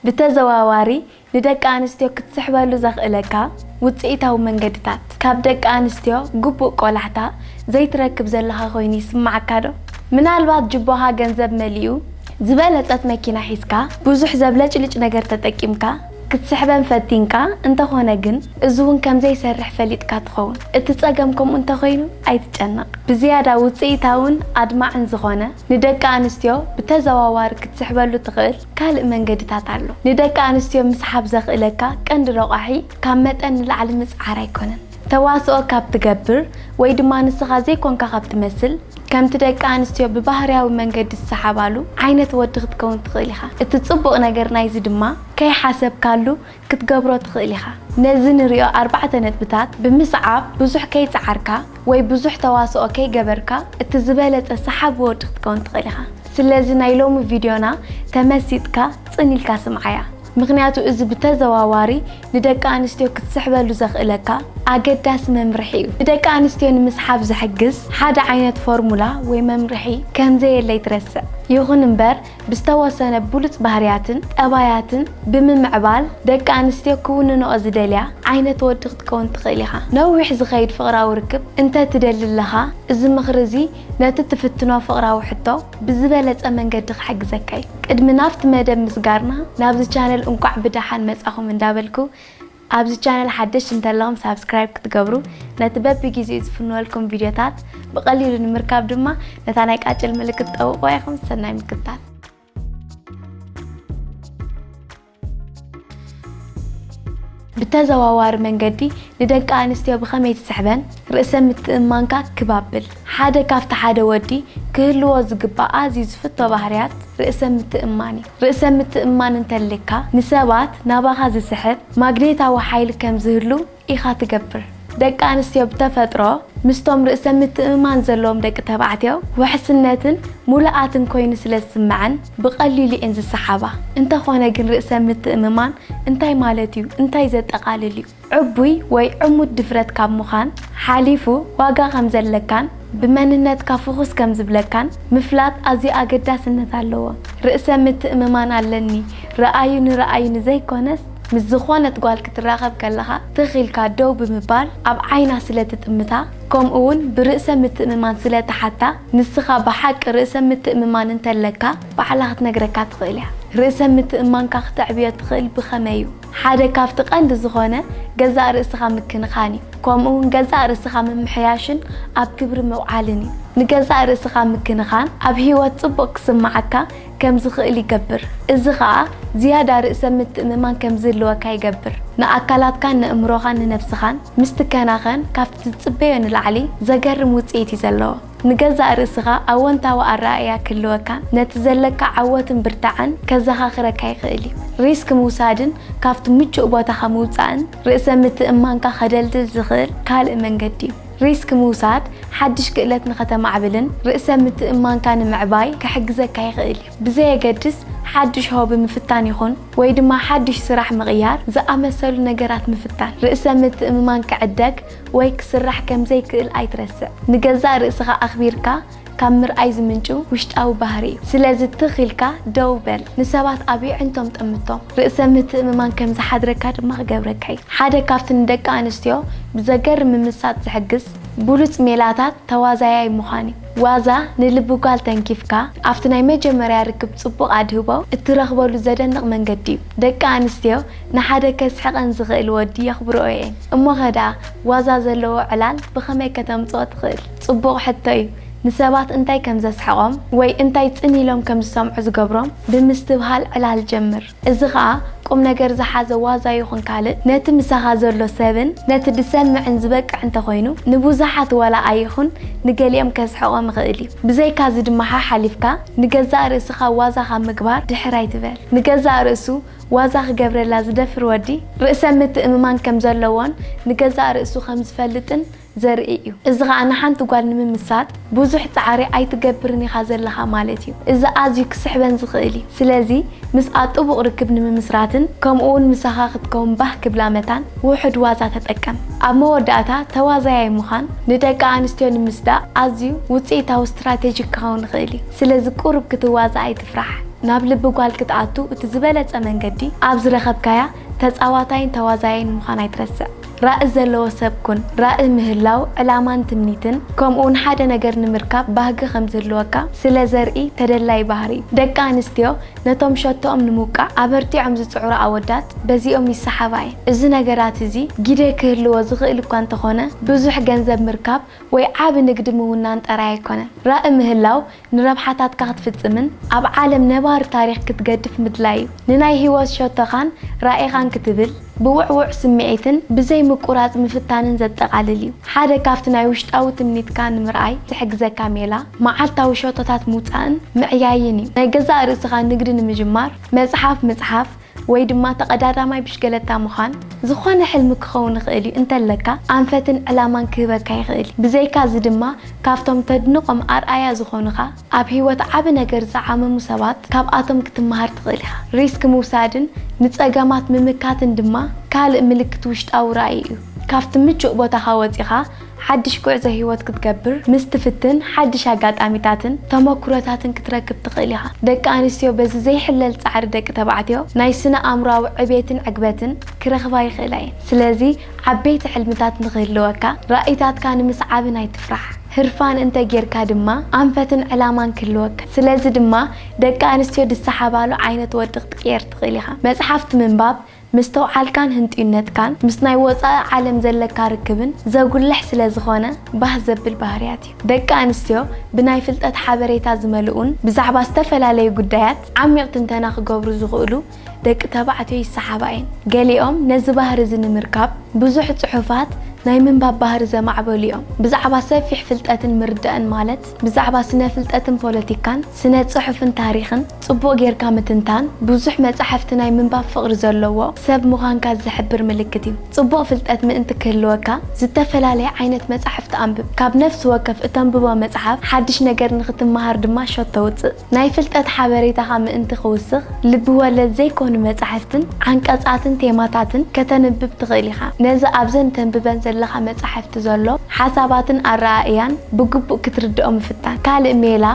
ብተዘዋዋሪ ንደቂ ኣንስትዮ ክትስሕበሉ ዘኽእለካ ውጽኢታዊ መንገድታት። ካብ ደቂ ኣንስትዮ ግቡእ ቆላሕታ ዘይትረክብ ዘለኻ ኮይኑ ይስምዓካዶ? ምናልባት ጅቦኻ ገንዘብ መሊኡ፣ ዝበለጸት መኪና ሒዝካ፣ ብዙሕ ዘብለጭልጭ ነገር ተጠቂምካ ክትስሕበን ፈቲንካ እንተኾነ ግን እዚ'ውን ከምዘይሰርሕ ፈሊጥካ ትኸውን። እቲ ጸገም ከምኡ እንተኾይኑ ኣይትጨነቕ። ብዝያዳ ውጽኢታውን ኣድማዕን ዝኾነ ንደቂ ኣንስትዮ ብተዘዋዋሪ ክትስሕበሉ ትኽእል፣ ካልእ መንገድታት ኣሎ። ንደቂ ኣንስትዮ ምስሓብ ዘኽእለካ ቀንዲ ረቋሒ ካብ መጠን ንላዕሊ ምጽዓር ኣይኮነን። ተዋስኦ ካብ ትገብር ወይ ድማ ንስኻ ዘይኮንካ ካብ ትመስል፣ ከምቲ ደቂ ኣንስትዮ ብባህርያዊ መንገዲ ዝሰሓባሉ ዓይነት ወዲ ክትከውን ትኽእል ኢኻ። እቲ ጽቡቕ ነገር ናይዚ ድማ ከይሓሰብካሉ ክትገብሮ ትኽእል ኢኻ። ነዚ ንሪኦ ኣርባዕተ ነጥብታት ብምስዓብ ብዙሕ ከይጸዓርካ ወይ ብዙሕ ተዋስኦ ከይገበርካ እቲ ዝበለጸ ሰሓቢ ወዲ ክትከውን ትኽእል ኢኻ። ስለዚ ናይ ሎሚ ቪድዮና ተመሲጥካ ጽን ኢልካ ስምዓያ። ምኽንያቱ እዚ ብተዘዋዋሪ ንደቂ ኣንስትዮ ክትስሕበሉ ዘኽእለካ ኣገዳሲ መምርሒ እዩ። ንደቂ ኣንስትዮ ንምስሓብ ዝሕግዝ ሓደ ዓይነት ፎርሙላ ወይ መምርሒ ከምዘየለ ኣይትረስዕ። ይኹን እምበር ብዝተወሰነ ብሉጽ ባህርያትን ጠባያትን ብምምዕባል ደቂ ኣንስትዮ ክውንንኦ ዝደልያ ዓይነት ወዲ ክትከውን ትኽእል ኢኻ። ነዊሕ ዝኸይድ ፍቕራዊ ርክብ እንተ ትደሊ ኣለኻ፣ እዚ ምኽሪ እዚ ነቲ ትፍትኖ ፍቕራዊ ሕቶ ብዝበለጸ መንገዲ ክሕግዘካ እዩ። ቅድሚ ናብቲ መደብ ምስጋርና ናብዚ ቻነል እንቋዕ ብደሓን መጻኹም እንዳበልኩ፣ ኣብዚ ቻነል ሓደሽቲ እንተለኹም ሳብስክራይብ ክትገብሩ ነቲ በቢ ጊዜኡ ዝፍንወልኩም ቪድዮታት ብቐሊሉ ንምርካብ ድማ ነታ ናይ ቃጭል ምልክት ጠውቑዋ ኢኹም ሰናይ ምክትታል። ብተዘዋዋሪ መንገዲ ንደቂ ኣንስትዮ ብኸመይ ትስሕበን? ርእሰ ምትእምማንካ ክብ ኣብል። ሓደ ካብቲ ሓደ ወዲ ክህልዎ ዝግባእ ኣዝዩ ዝፍቶ ባህርያት ርእሰ ምትእምማን እዩ። ርእሰ ምትእምማን እንተልካ ንሰባት ናባኻ ዝስሕብ ማግኔታዊ ሓይሊ ከም ዝህሉ ኢኻ ትገብር። ደቂ ኣንስትዮ ብተፈጥሮ ምስቶም ርእሰ ምትእምማን ዘለዎም ደቂ ተባዕትዮ ውሕስነትን ሙሉኣትን ኮይኑ ስለ ዝስመዐን ብቐሊሉ እየን ዝሰሓባ። እንተኾነ ግን ርእሰ ምትእምማን እንታይ ማለት እዩ? እንታይ ዘጠቓልል እዩ? ዕቡይ ወይ ዕሙት ድፍረት ካብ ምዃን ሓሊፉ ዋጋ ከም ዘለካን ብመንነትካ ፍኹስ ከም ዝብለካን ምፍላጥ ኣዝዩ ኣገዳስነት ኣለዎ። ርእሰ ምትእምማን ኣለኒ ርኣዩ ንርኣዩ ንዘይኮነስ ምስ ዝኾነት ጓል ክትራኸብ ከለኻ ትኽ ኢልካ ደው ብምባል ኣብ ዓይና ስለ ትጥምታ ከምኡ ውን ብርእሰ ምትእምማን ስለ ትሓታ ንስኻ ብሓቂ ርእሰ ምትእምማን እንተለካ ባዕላ ክትነግረካ ትኽእል እያ። ርእሰ ምትእምማንካ ክተዕብዮ ትኽእል ብኸመይ እዩ? ሓደ ካብቲ ቀንዲ ዝኾነ ገዛእ ርእስኻ ምክንኻን እዩ። ከምኡ እውን ገዛእ ርእስኻ ምምሕያሽን ኣብ ግብሪ ምውዓልን እዩ። ንገዛእ ርእስኻ ምክንኻን ኣብ ህይወት ጽቡቕ ክስምዓካ ከም ዝኽእል ይገብር፣ እዚ ኸኣ ዝያዳ ርእሰ ምትእምማን ከም ዝህልወካ ይገብር። ንኣካላትካን ነእምሮኻን ንነብስኻን ምስ ትከናኸን ካብቲ ትጽበዮ ንላዕሊ ዘገርም ውጽኢት እዩ ዘለዎ። ንገዛእ ርእስኻ ኣወንታዊ ኣረኣእያ ክህልወካ ነቲ ዘለካ ዓወትን ብርታዐን ከዘኻኽረካ ይኽእል እዩ። ሪስክ ምውሳድን ካብቲ ምቹእ ቦታኻ ምውጻእን ርእሰ ምትእምማንካ ከደልድል ዝኽእል ካልእ መንገዲ እዩ። ሪስክ ምውሳድ ሓድሽ ክእለት ንኸተማዕብልን ርእሰ ምትእምማንካ ንምዕባይ ክሕግዘካ ይኽእል እዩ። ብዘየገድስ ሓድሽ ሆቢ ምፍታን ይኹን ወይ ድማ ሓድሽ ስራሕ ምቕያር ዝኣመሰሉ ነገራት ምፍታን ርእሰ ምትእምማን ክዕደግ ወይ ክስራሕ ከም ዘይክእል ኣይትረስዕ። ንገዛእ ርእስኻ ኣኽቢርካ ካብ ምርኣይ ዝምንጩ ውሽጣዊ ባህሪ እዩ። ስለዚ ትኽ ኢልካ ደው በል። ንሰባት ኣብ የዕንቶም ጠምቶም። ርእሰ ምትእምማን ከም ዝሓድረካ ድማ ክገብረካ እዩ። ሓደ ካብቲ ንደቂ ኣንስትዮ ብዘገርም ምምሳጥ ዝሕግዝ ብሉጽ ሜላታት ተዋዛያይ ምዃን እዩ። ዋዛ ንልቢ ጓል ተንኪፍካ ኣብቲ ናይ መጀመርያ ርክብ ጽቡቕ ኣድህቦ እትረኽበሉ ዘደንቕ መንገዲ እዩ። ደቂ ኣንስትዮ ንሓደ ከስሕቐን ዝኽእል ወዲ የኽብርኦ እየ። እሞኸ ደኣ ዋዛ ዘለዎ ዕላል ብኸመይ ከተምጽኦ ትኽእል? ጽቡቕ ሕቶ እዩ። ንሰባት እንታይ ከም ዘስሕቖም ወይ እንታይ ጽን ኢሎም ከም ዝሰምዑ ዝገብሮም ብምስትብሃል ዕላል ጀምር። እዚ ኸኣ ቁምነገር ዝሓዘ ዋዛ ይኹን ካልእ ነቲ ምሳኻ ዘሎ ሰብን ነቲ ድሰምዕን ዝበቅዕ እንተ ኾይኑ ንብዙሓት ዋላ ኣይኹን ንገሊኦም ከስሕቖም ይኽእል እዩ። ብዘይካዚ ድማ ሓሓሊፍካ ንገዛእ ርእስኻ ዋዛ ካብ ምግባር ድሕር ኣይትበል። ንገዛእ ርእሱ ዋዛ ክገብረላ ዝደፍር ወዲ፣ ርእሰ ምትእምማን ከም ዘለዎን ንገዛእ ርእሱ ከም ዝፈልጥን ዘርኢ እዩ። እዚ ኸኣ ንሓንቲ ጓል ንምምሳጥ ብዙሕ ጻዕሪ ኣይትገብርን ኢኻ ዘለኻ ማለት እዩ። እዚ ኣዝዩ ክስሕበን ዝኽእል እዩ። ስለዚ ምስኣ ጥቡቕ ርክብ ንምምስራትን ከምኡውን ምሳኻ ክትከውን ባህ ክብላ መታን ውሑድ ዋዛ ተጠቀም። ኣብ መወዳእታ ተዋዛያይ ምዃን ንደቂ ኣንስትዮ ንምስዳእ ኣዝዩ ውጽኢታዊ ስትራቴጂ ክኸውን ይኽእል እዩ። ስለዚ ቁሩብ ክትዋዛእ ኣይትፍራህ። ስራሕ ናብ ልቢ ጓል ክትኣቱ እቲ ዝበለጸ መንገዲ ኣብ ዝረኸብካያ ተጻዋታይን ተዋዛያይን ምዃን ኣይትረስዕ። ራኢ ዘለዎ ሰብ ኩን። ራኢ ምህላው ዕላማን ትምኒትን ከምኡውን ሓደ ነገር ንምርካብ ባህጊ ከም ዝህልወካ ስለ ዘርኢ ተደላዪ ባህሪ እዩ። ደቂ ኣንስትዮ ነቶም ሸቶኦም ንምውቃዕ ኣበርቲዖም ዝጽዕሩ ኣወዳት በዚኦም ይሰሓባ እየን። እዚ ነገራት እዚ ግደ ክህልዎ ዝኽእል እኳ እንተኾነ ብዙሕ ገንዘብ ምርካብ ወይ ዓቢ ንግዲ ምውናን ጠራይ ኣይኮነን። ራኢ ምህላው ንረብሓታትካ ክትፍጽምን ኣብ ዓለም ነባሪ ታሪኽ ክትገድፍ ምድላይ እዩ። ንናይ ህይወት ሸቶኻን ራኢኻን ክትብል ብውዕዉዕ ስምዒትን ብዘይ ምቁራጽ ምፍታንን ዘጠቓልል እዩ። ሓደ ካብቲ ናይ ውሽጣዊ ትምኒትካ ንምርኣይ ዝሕግዘካ ሜላ መዓልታዊ ሸቶታት ምውጻእን ምዕያይን እዩ። ናይ ገዛእ ርእስኻ ንግዲ ንምጅማር መጽሓፍ ምጽሓፍ፣ ወይ ድማ ተቐዳዳማይ ብሽገለታ ምዃን ዝኾነ ሕልሚ ክኸውን ይኽእል እዩ እንተለካ ኣንፈትን ዕላማን ክህበካ ይኽእል እዩ። ብዘይካ እዚ ድማ ካብቶም ተድንቖም ኣርኣያ ዝኾኑኻ ኣብ ህይወት ዓቢ ነገር ዝዓመሙ ሰባት ካብኣቶም ክትመሃር ትኽእል ኢኻ። ሪስክ ምውሳድን ንጸገማት ምምካትን ድማ ካልእ ምልክት ውሽጣዊ ራኢ እዩ። ካብቲ ምቹእ ቦታኻ ወጺኻ ሓድሽ ጉዕዞ ህይወት ክትገብር ምስ ትፍትን ሓድሽ ኣጋጣሚታትን ተመኩሮታትን ክትረክብ ትኽእል ኢኻ። ደቂ ኣንስትዮ በዚ ዘይሕለል ጻዕሪ ደቂ ተባዕትዮ ናይ ስነ ኣእምሮኣዊ ዕቤትን ዕግበትን ክረኽባ ይኽእላ እየን። ስለዚ ዓበይቲ ሕልምታት ንኽህልወካ ራኢታትካ ንምስዓብን ኣይትፍራሕ። ህርፋን እንተ ጌርካ ድማ ኣንፈትን ዕላማን ክህልወካ። ስለዚ ድማ ደቂ ኣንስትዮ ዝሰሓባሉ ዓይነት ወዲ ክትቅየር ትኽእል ኢኻ። መጽሓፍቲ ምንባብ፣ መስተውዓልካን ህንጡይነትካን ምስ ናይ ወጻኢ ዓለም ዘለካ ርክብን ዘጉልሕ ስለ ዝኾነ ባህ ዘብል ባህርያት እዩ። ደቂ ኣንስትዮ ብናይ ፍልጠት ሓበሬታ ዝመልኡን ብዛዕባ ዝተፈላለዩ ጉዳያት ዓሚቕ ትንተና ክገብሩ ዝኽእሉ ደቂ ተባዕትዮ ይሰሓባ እየን። ገሊኦም ነዚ ባህሪ እዚ ንምርካብ ብዙሕ ጽሑፋት ናይ ምንባብ ባህሪ ዘማዕበሉ እዮም። ብዛዕባ ሰፊሕ ፍልጠትን ምርዳእን ማለት፣ ብዛዕባ ስነ ፍልጠትን ፖለቲካን ስነ ጽሑፍን ታሪኽን ጽቡቕ ጌርካ ምትንታን ብዙሕ መጻሕፍቲ ናይ ምንባብ ፍቕሪ ዘለዎ ሰብ ምዃንካ ዝሕብር ምልክት እዩ። ጽቡቕ ፍልጠት ምእንቲ ክህልወካ ዝተፈላለየ ዓይነት መጻሕፍቲ ኣንብብ። ካብ ነፍሲ ወከፍ እተንብቦ መጽሓፍ ሓድሽ ነገር ንኽትመሃር ድማ ሸቶ ውጽእ። ናይ ፍልጠት ሓበሬታኻ ምእንቲ ኺውስኽ፣ ልቢ ወለድ ዘይኰኑ መጻሕፍትን ዓንቀጻትን ቴማታትን ከተንብብ ትኽእል ኢኻ። ነዚ ኣብዘን እተንብበን ዘለኻ መጻሕፍቲ ዘሎ ሓሳባትን ኣረኣእያን ብግቡእ ክትርድኦ ምፍታን። ካልእ ሜላ፣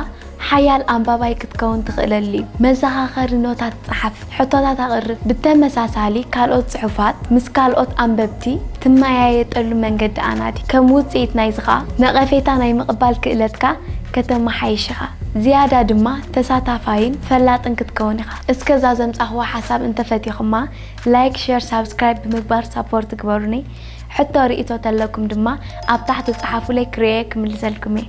ሓያል ኣንባባይ ክትከውን ትኽእለሉ'ዩ። መዘኻኸሪ ኖታት ጸሓፍ። ሕቶታት ኣቕርብ። ብተመሳሳሊ ካልኦት ጽሑፋት ምስ ካልኦት ኣንበብቲ ትመያየጠሉ መንገዲ ኣናዲ። ከም ውጽኢት ናይዚ ከኣ ነቐፌታ ናይ ምቕባል ክእለትካ ከተመሓይሽ ኢኻ። ዝያዳ ድማ ተሳታፋይን ፈላጥን ክትከውን ኢኻ። እስከ እዛ ዘምጻኽዋ ሓሳብ እንተፈቲኹማ ላይክ ሸር ሳብስክራይብ ብምግባር ሳፖርት ግበሩኒ። ሕቶ ርኢቶ ተለኩም ድማ ኣብ ታሕቲ ጸሓፉለይ ክርእየ ክምልሰልኩም እየ።